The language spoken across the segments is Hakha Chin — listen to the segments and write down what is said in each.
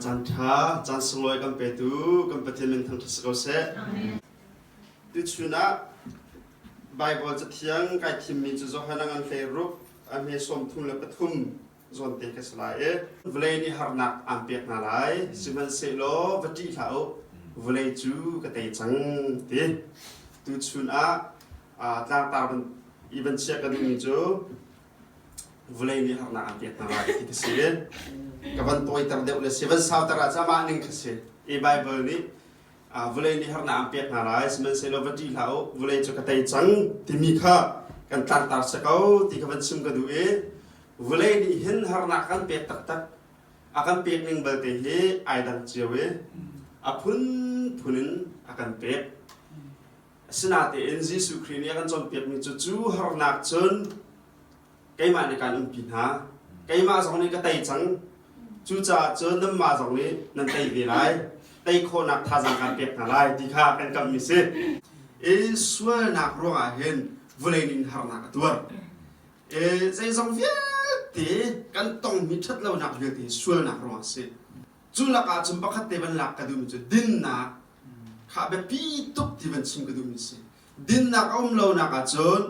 Caan ṭha, caan sunglawi kan petu kan Pathian min thangṭhat si ko seh. Tuchun ah Baibal Cathiang kai thimmi cu Johanna ngan hleiruk a hme sawm thum le pathum zawn te ka si lai i vawlei nih harnak aan pek hna lai sihmanhsehlaw va ṭih hlah u vawlei cu ka tei cang ti tuchun ah tlangtar i vanchia ka duhmi cu vulei nih harnak aan pek hna lai ti ka si len ka van tawiter deuh le si van sauter ah cah mah ning ka si i bible nih vulei nih harnak aan pek hna lai sihmanhsehlaw va ṭih hlah u vulei cu ka tei cang timi kha kan tlangtar sa ko ti ka van chim ka duh i vulei nih hin harnak kan pek taktak a kan pek ning balte hi ai dang cio i a phunphun in a kan pek Asinatein Jesuh Khrih nih a kan cawnpiakmi cu cu harnak cun keimah nih kaan umpi hna. Keimah zong nih ka tei cang. Cucaah cun nanmah zong nih nan tei ve lai. Tei khawhnak thazaang kaan pek hna lai ti kha kan kamhmi si. I sualnak ruangah hin vulei nih harnak a tuar. I zeizong vialte kan tongmi ṭhat lonak vialte sualnak ruangah a si. Cu lakah cun pakhat te van lak ka duhmi cu dinnak kha a biapi tuk ti van chim ka duhmi a si. Dinnak a um lonak ah cun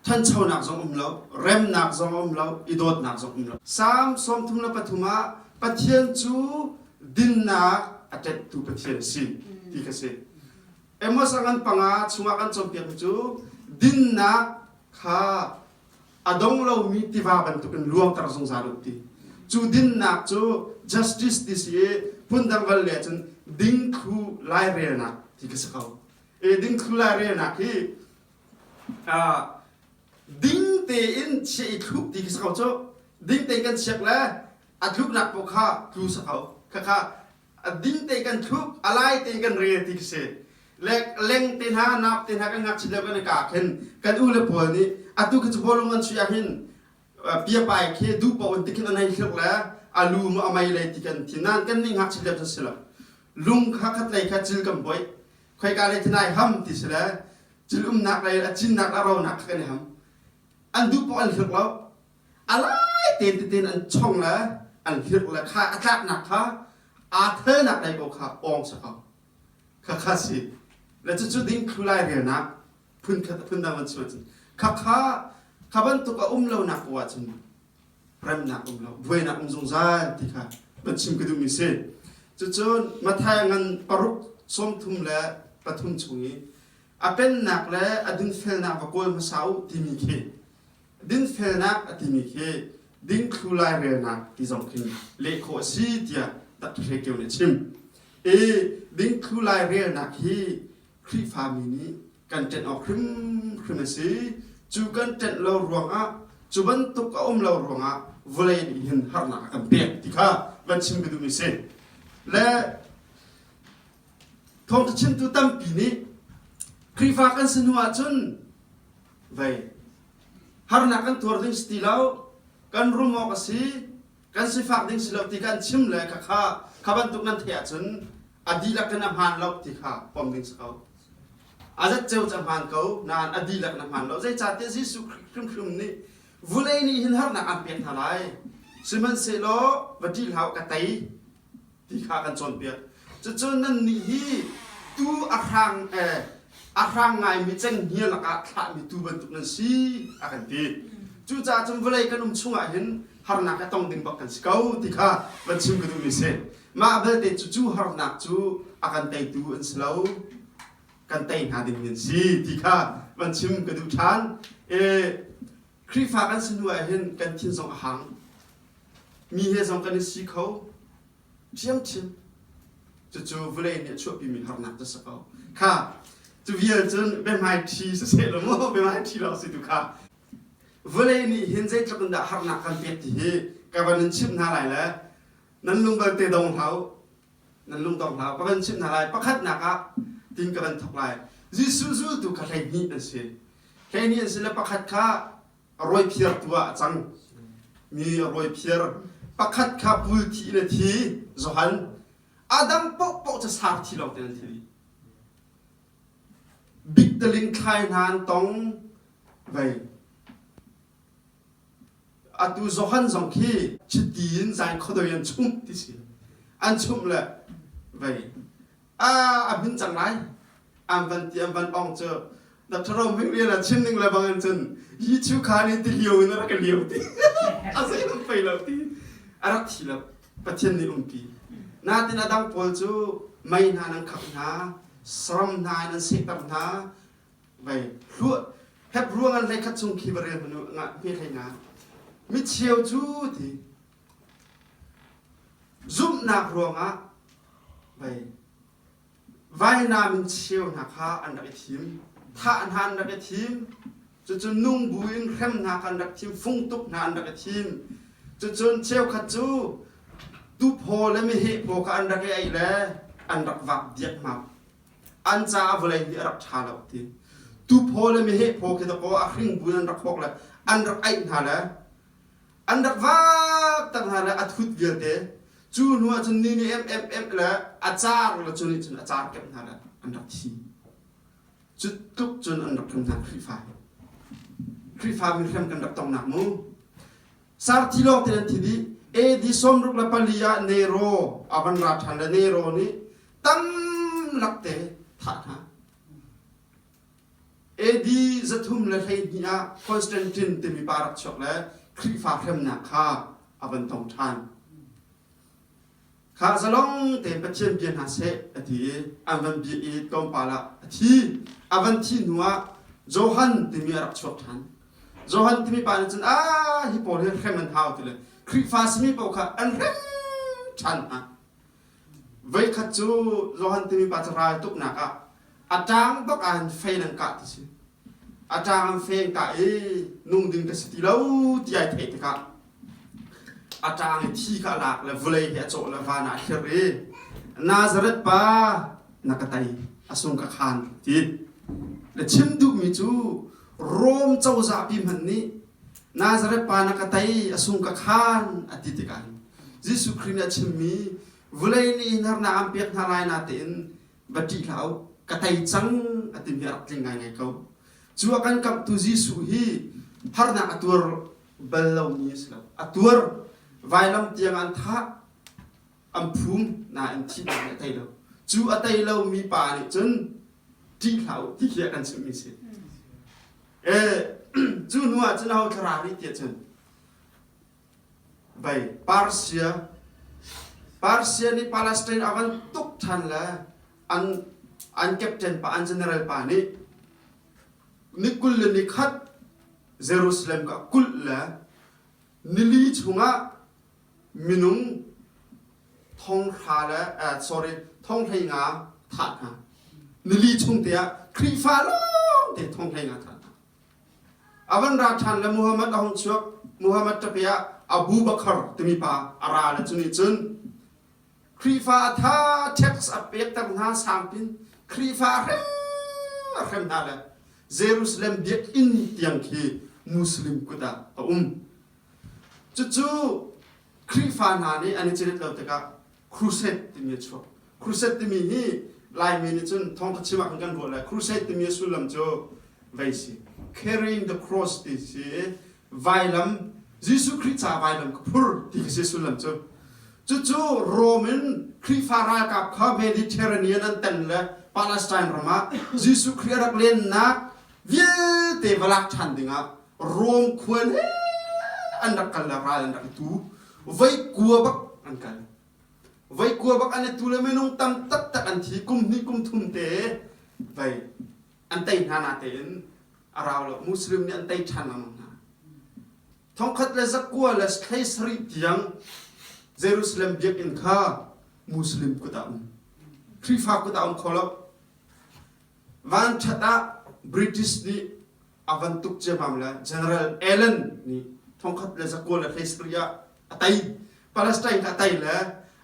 ṭhanchonak zong um lo, remnak zong a um lo, i dawtnak zong um lo. Salm sawmthum le pathum ah Pathian cu dinnak a ṭanhtu Pathian a si ti ka si. Amos a ngan panga chungah kan cawnpiakmi cu dinnak kha a dong lomi tiva bantuk in luangter zungzal u ti. Cu dinnak cu justice ti si i phundang val le cun dingthlu lairelnak ti ka si ko. E dingthlu lairelnak hi uh, ding tein chia i thluk ti ka si ko cu. Ding tein kan chiak le a tluknak paoh kha tlu sa ko. Khakha a ding te kan thup a lai te kan rel ti ka si le leng te hna nap te hna kan ngakchia le kan ka khen kan u le pawl nih atu ka capo lung an chuih ah hin piapai khe du pa un tikhin an hei thluak le a lu mu a mei lei ti kan thin nan kan ning ngakchia le si lo lung kha khat lei kha cil kan boih khoi ka le thinai ham ti si le cil umnak lei a cinnak la ronak kha kan i ham an du pa an thluak lo a lai tein tein an chong le an hirh le kha a tlaknak kha aa thelnak lei ko kha awng chahau khakha si le cucu ding thlu lai relnak phunkhat phundang van chim ahcun khakha kha bantuk a um lonak ko ahcun remnak um lo buainak um zungzal ti kha van chim ka duhmi si cucu Matthai ngan paruk sawmthum le pathum chung i a pennak le a dunfelnak va kawl hmasa u timi khi dinfelnak a timi khi dingthlu lairelnak ti zong khin leh khawh a si tiah Dr. Keu nih a chim. I dingthlu lairelnak hi Khrihfami nih kan ṭenh awk hrimhrim a si. Cu kan ṭenh lo ruangah, cu bantuk a um lo ruangah vawlei nih hin harnak a kan pek ti kha van chim ka duhmi si. Le Thawngṭha chimtu tampi nih Khrihfa kan si hnu ahcun Vei. Harnak kan tuar ding si ti lo. Kan rum awk a si. Kan sifak ding si lo ti kan chim le ka kha kha bantuk nan theih ahcun a dihlak in a hmaan lo ti kha pom ding si ko. A zat ceu ca hmaan ko nain a dihlak na hmaan lo. Zeicahtiah Jesuh hrimhrim nih vulei nih hin harnak an pek hna lai. Sihmanhsehlaw va ṭih hlah u ka tei. ti kha kan cawnpiak. Cucun nannih hi tuu a hrang a hrang ngaimi cenghngia lakah thlahmi tuu bantuk nan si, a kan ti. Cucaah cun vawlei kan um chungah hin harnak hi a tong ding bak kan si ko ti kha van chim ka duhmi a si. Mah belte cucu harnak cu a kan teitu an si lo, kan tei hna dingmi an si ti kha van chim ka duh ṭhan. Khrihfa kan si hnu ah hin kan thin zong a hang. Mi he zong kan i si kho. Biangchim. Cucu vulei nih a chuahpimi harnak cu si ko. Kha, cu vial cun biahmaiṭhi si seh law maw biahmaiṭhi lawng si tu kha. Vulei nih hin zeitluk in dah harnak kan pek ti hi ka van in chimh hna lai le nan lungbalte dong hlah u. nan lungtor hlah va kan chimh hna lai pakhatnak ah tin ka van thawk lai Jesuh zultu kha hleihnih an si hleihnih an si le pakhat kha rawiphiar tu ah a cang mi rawiphiar pakhat kha bul thi in a thi Johan adam pohpoh ca sar thi lawng te an thi rih bik taling thlai hna an tong vei Atu Johan zong khi chiti in zai khuadoi an chumh ti si. An chumh le vei. A a hmin cang lai. An van ti an van ong cu Dr. Roming rian a chim ning le bangin cun hi chu kha nih ti lio in a rak liau ti. A zei lam fei lo ti. A rak thi lo. Pathian nih umpi. Natin a dang pawl cu mei hna nan khak hna, saram hna in an sehter hna, vai hluah hep ruangah hlei khat chung khi va rel hmanu ngah hme thei nga micheu cu ti zumhnak ruangah vai vainam in cheu hna kha an rak i thim thah hna an rak i thim cucu nung bu in hrem hna kha an rak thim fung tuk hna an rak i thim cucun cheukhat cu tu phaw le meheh paw kha an rak i ei le an rak vak diak hmak an caah vawlei hi a rak ṭha lo ti tu phaw le meheh phaw khi takaw a hring bu in an rak hawk le an rak aih hna le an rak vaakter hna le a thut vialte cu hnu ah cun ni nih em em em le a car le cu nih cun a car kemh hna le an rak thi cu tluk cun an rak tlung hna Khrihfa Khrihfa mi hriam kan rak tongnak mu Sarthi lawng te an thin i AD sawmruk le pali ah Nero a van ra ṭhan le Nero nih tam lak te thah hna. AD zathum le hleihnih ah Constantine timi pa rak chuak le Khrihfa hremnak kha a van tong ṭhan. Kha zalong tein Pathian bia hna seh, a ti i an van bia i tlawmpal ah a thi. A van thih hnuah Johan timi a rak chuak ṭhan. Johan timi pa nih cun, aa hi pawl hi hrem an hau, ti le Khrihfa simi paoh kha an hrem ṭhan hna. Voikhat cu Johan timi pa cu raltuknak ah a ṭang bak ah hin fei nan kah ti si. a ṭang an feng ka i nung ding ka si ti lo ti ai theih tikah a ṭang i thi kha a lak le vulei hi a cawh le van ah a thlir i Nazareth pa na ka tei a sung ka khan ti le chim duhmi cu Rom cozahpi hmanh nih Nazareth pa na ka tei a sung ka khan a ti tikah Jesuh Khrih nih a chimmi vulei nih hin harnak an pek hna lai na tein va ṭih hlah u, ka tei cang a timi a rak tling ngaingai ko. Cu a kan kamhtu Jesuh hi harnak a tuar bal lomi a si lo. A tuar vailam tiang an thah, an phum, nain thihnak nih a tei lo. Cu a tei lomi pa nih cun ṭih hlah u ti khi a kan chimhmi a si. E, cu hnuah cun aho thlarau nih tiah cun Vei Persia Persia nih Palestine a van tuk ṭhan le an an captain pa an general pa nih ni kul le ni khat Jerusalem ka kulh le nili chungah minung thonghra le eh, sorry thonghleinga thah hna. Nili chung te ah Khrihfa lawngte thonghleinga thah hna. A van ra ṭhan le Muhammad a hung chuak. Muhammad ṭapi ah Abu Bakar timi pa a ra le cu nih cun Khrihfa a tha tax a pekter hna sangpin Khrihfa a hrem a hrem hna le Jerusalem biakinn tiang khi Muslim kut ah a um. Cucu Khrihfa hna nih an i cirit lo tikah crusade timi a chuak crusade timi hi laimi nih cun thawngtha chim ahkhan kan ruah lai crusade timi a sullam cu vei si carrying the cross ti si vailam Jesuh Khrih ca vailam ka phur ti si sullam cu cucu Rome in Khrihfa ralkap kha Mediterranean an tan le Palestine ram ah Jesuh Khrih a rak lennak vialte va lak ṭhan dingah Rom khuan he an rak kal le ral an rak i tu vaikua bak an kal vaikua bak an i tu le minung tam taktak an thi kum hnih kum thum te vei an tei hna na tein a rau lo muslim nih an tei ṭhan lengmang hna thongkhat le zakua le thlei sarih tiang jerusalem biakinn kha muslim kut ah um khrihfa kut ah um kho lo Vanṭhat ah British nih a van tuk ciammam le General Allen nih thongkhat le zakual a hlei sakri ah a tei. Palestine a tei le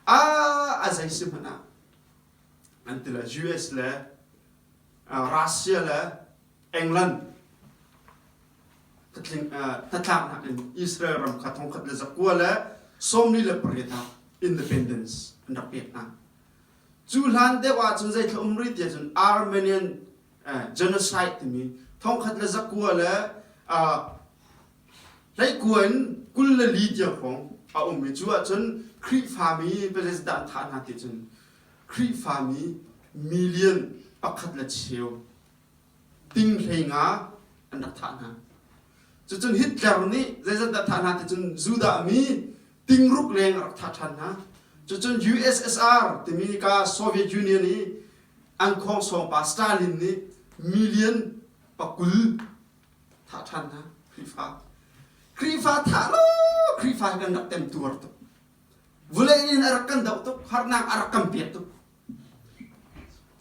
a a zei si hmanh ah an ti le US le uh, Russia le England hnatlink, uh, hnatlaknak in Israel ram kha thongkhat le zakua le sawmli le pariat ah independence an rak pek hna. Cu hlan deuh ahcun zeitluk um rih tiah cun Armenian genocide timi thongkhat le zakua le hleikua in kul le li tiang hrawng a um i cu ahcun Khrihfami president an thah hna ti cun Khrihfami million pakhat le cheu tinghleng ah an rak thah hna. Cucun Hitler nih zeizat dah thah hna ti cun Judah mi tingruk leng a rak thah ṭhan hna. Cucun USSR timi ka Soviet Union i an khawngsawng pa Stalin nih million pakul thah ṭhan hna Khrihfa. Khrihfa thah lo Khrihfa hi kan rak tem tuar tuk. Vulei in a rak kan doh tuk, harnak a rak kan pek tuk.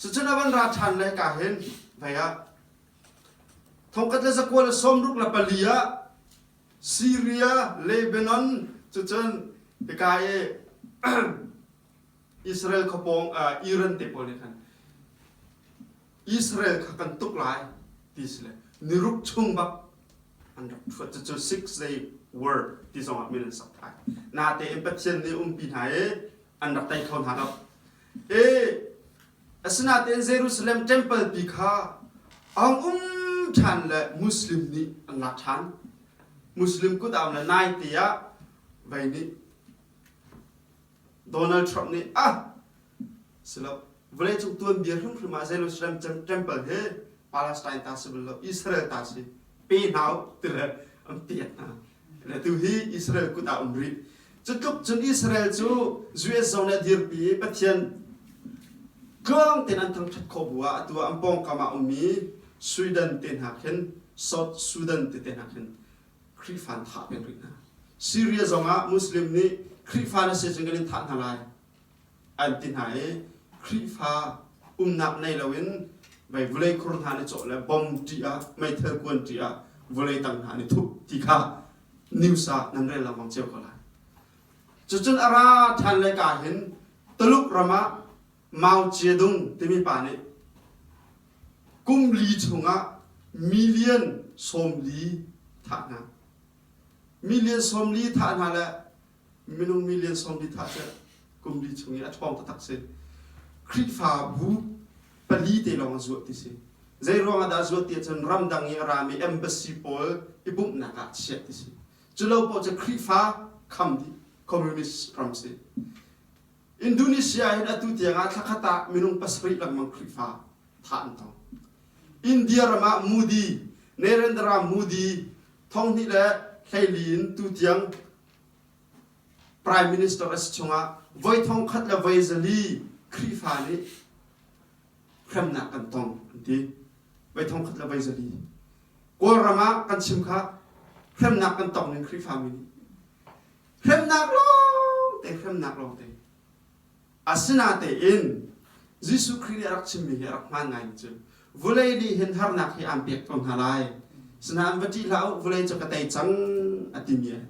Cucun a van ra ṭhan le ka hin vei ah thongkhat le zakual a sawmruk le pali ah Syria Lebanon cucun ika i Israel khawpawng Iran te pawl nih khan Israel kha kan tuk lai ti si le niruk chung bak an rak ṭhuat cucu six day war ti zongah min an sak thai nate in Pathian nih umpi hna i an rak tei kho hna lo. E, asinain Jerusalem temple pi kha aung um ṭhan le Muslim nih an lak ṭhan. Muslim kutdaam le nai te ah vei nih Donald Trump nih ah silo vawleicung tuanbia hrimhrim ah Jerusalem temple he Palestine ta si bal lo Israel ta si pe hna u ti le an tiah hna. Le tuhi Israel kut ah um rih. Cutluk cun Israel cu US zong nih a dirpi i Pathian tluang tein an thangṭhat khawh bu ah atu ah an pawngkam ah um i Sweden te hna khin South Sudan tete hna khin Khrihfa an thah peng rih hna. Syria zong ah Muslim nih Khrihfa na si cun kan in thah hna lai an ti hna i Khrihfa umnak nei loin mei vulei khur hna nih cawh le bom ṭih ah meithal kuan ṭih ah vulei tang hna nih thup ti kha news ah nan rel lengmang cio ko lai cucun a ra ṭhan le ka hin Tuluk ram ah Mao Zedong timi pa nih kum li chungah million sawmli thah hna million sawmli thah hna le minung million sawmli tha cu kum li chung i a ṭhawng taktak si Khrihfabu pali te lawng a zuah ti si zei ruang ah dah zuat ti ahcun ramdang i a rami embassy pawl i bumhnak ah chiah ti si cu lo paoh cu Khrihfa kham dih communist ram si Indonesia hin atu tiang ah thla khat ah minung pasarih lengmang Khrihfa thah an tong India ram ah Modi Narendra Modi thonghnih le hleili in tutiang Prime Minister a si chungah voi thongkhat le voi zali Khrihfa nih hremnak kan tong an ti. Voi thongkhat le voi zali. Kawlram ah kan chim kha hremnak kan tong ning Khrihfa mi nih hremnak lawngte hremnak lawngte Asinatein Jesuh Khrih nih a rak chimmi hi a rak hmaan ngaimi cu, Vulei nih hin harnak hi aan pek ko hna lai, sinain va ṭih hlah u, vulei cu ka tei cang, a timi a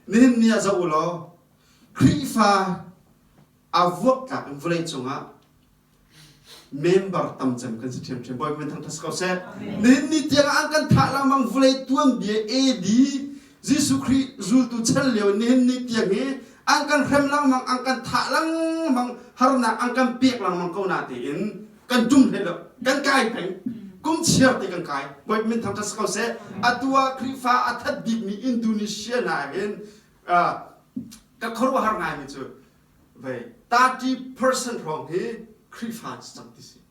nihin ni ah zoh u law, Khrihfa a vuaktlak in vulei cungah member tam cem kan si ṭhiamṭhiam. Bawipa min thangṭhat si ko seh. Nihin ni tiangah an kan thah lengmang, vulei tuanbia AD Jesuh Khrih zultu chel lio in nihin ni tiang hi an kan hrem lengmang, an kan thah lengmang, harnak an kan pek lengmang ko na tiin kan tum hlei lo, kan kai peng. Kum chiar te kan kai. Voih min thang ṭhat ko seh. Atu ah Khrihfa a that bikmi Indonesia na hin ka khuaruahhar ngaimi cu vei 30% hrawng hi Khrihfa cang ti si.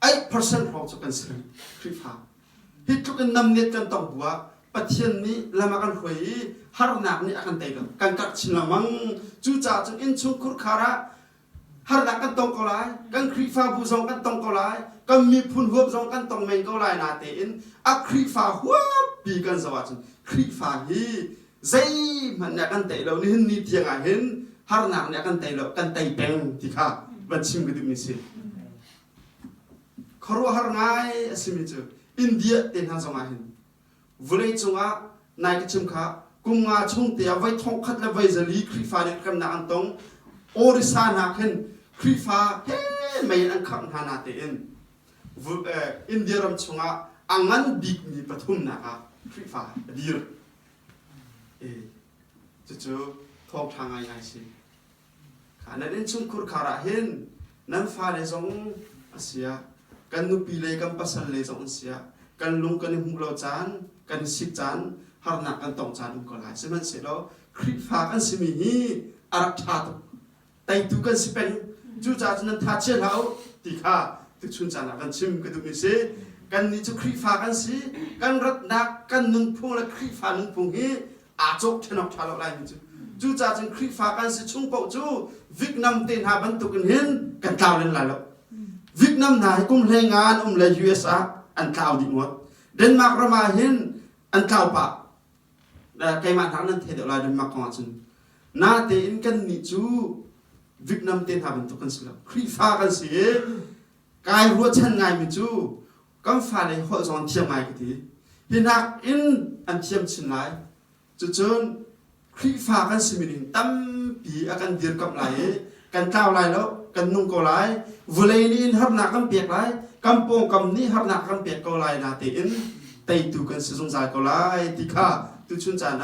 8% hrawng cu kan si reng Khrihfa. Hi tluk in namnet kan tong bu ah Pathian nih lam a kan hruai i harnak nih a kan tei lo. Kan karh chin lengmang. Cucaah cun innchungkhur khar ah harnak kan tong ko lai. Kan Khrihfabu zong kan tong ko lai. Kan miphun huap zong kan tong men ko lai na tein a Khrihfa huappi kan zoh ahcun Khrihfa hi zeihmanh nih a kan tei lo nihin ni tiang ah hin harnak nih a kan tei lo kan tei peng ti kha va chim ka duhmi si khuaruahhar ngai a simi cu india te hna zong ah hin vulei cung ah nai ka chim kha kum nga chung te ah voi thong khat le voi zali khrifa nih remnak an tong orisa hna khin khrifa he mei an khangh hna na tein India ram chung ah a ngan bikmi pathumnak ah khrifa a dir Cucu thawng ṭha ngai a si. Nan innchungkhur khar ah hin nan fale zong a siah kan nupi le kan pasal le zong an siah kan lung kan i hmuh lo caan kan i sik caan harnak kan tong caan um ko lai sihmanhsehlaw Khrihfa kan simi hi a rak ṭha tuk teitu kan si peng cucaah cun nan tha chia hlah u ti kha tuchun caan ah kan chim ka duhmi si kannih cu Khrihfa kan si kan ratnak kan nunphung le Khrihfa nunphung hi aa cawk thenawk tha lo laimi cu cucaah cun Khrihfa kan si chung paoh cu Vietnam te hna bantuk in hin kan tlau len lai lo Vietnam hna hi kum hlei nga an um le US ah an tlau dih ngawt Denmark ram ah hin an tlau pah keimah hna nan thei deuh lai Denmark kong ahcun natein kannih cu Vietnam te hna bantuk kan si lo Khrihfa kan si i kai ruahchan ngaimi cu kan fale holh zong an thiam ngai ka ti hi nakin an thiam chin lai cucun Khrihfa kan simi ning tampi a kan dirkamh lai i kan tlau lai lo kan nung ko lai vulei nih in harnak kan pek lai kan pawngkam nih harnak kan pek ko lai na tein teitu kan si zungzal ko lai ti kha tu chun caan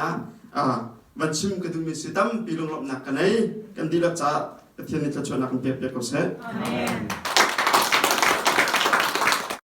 ah van chim ka duhmi si tampi lunglawmhnak ka nei kan dihlak caah Pathian nih thluachuahnak kan pek piak ko seh. Amen.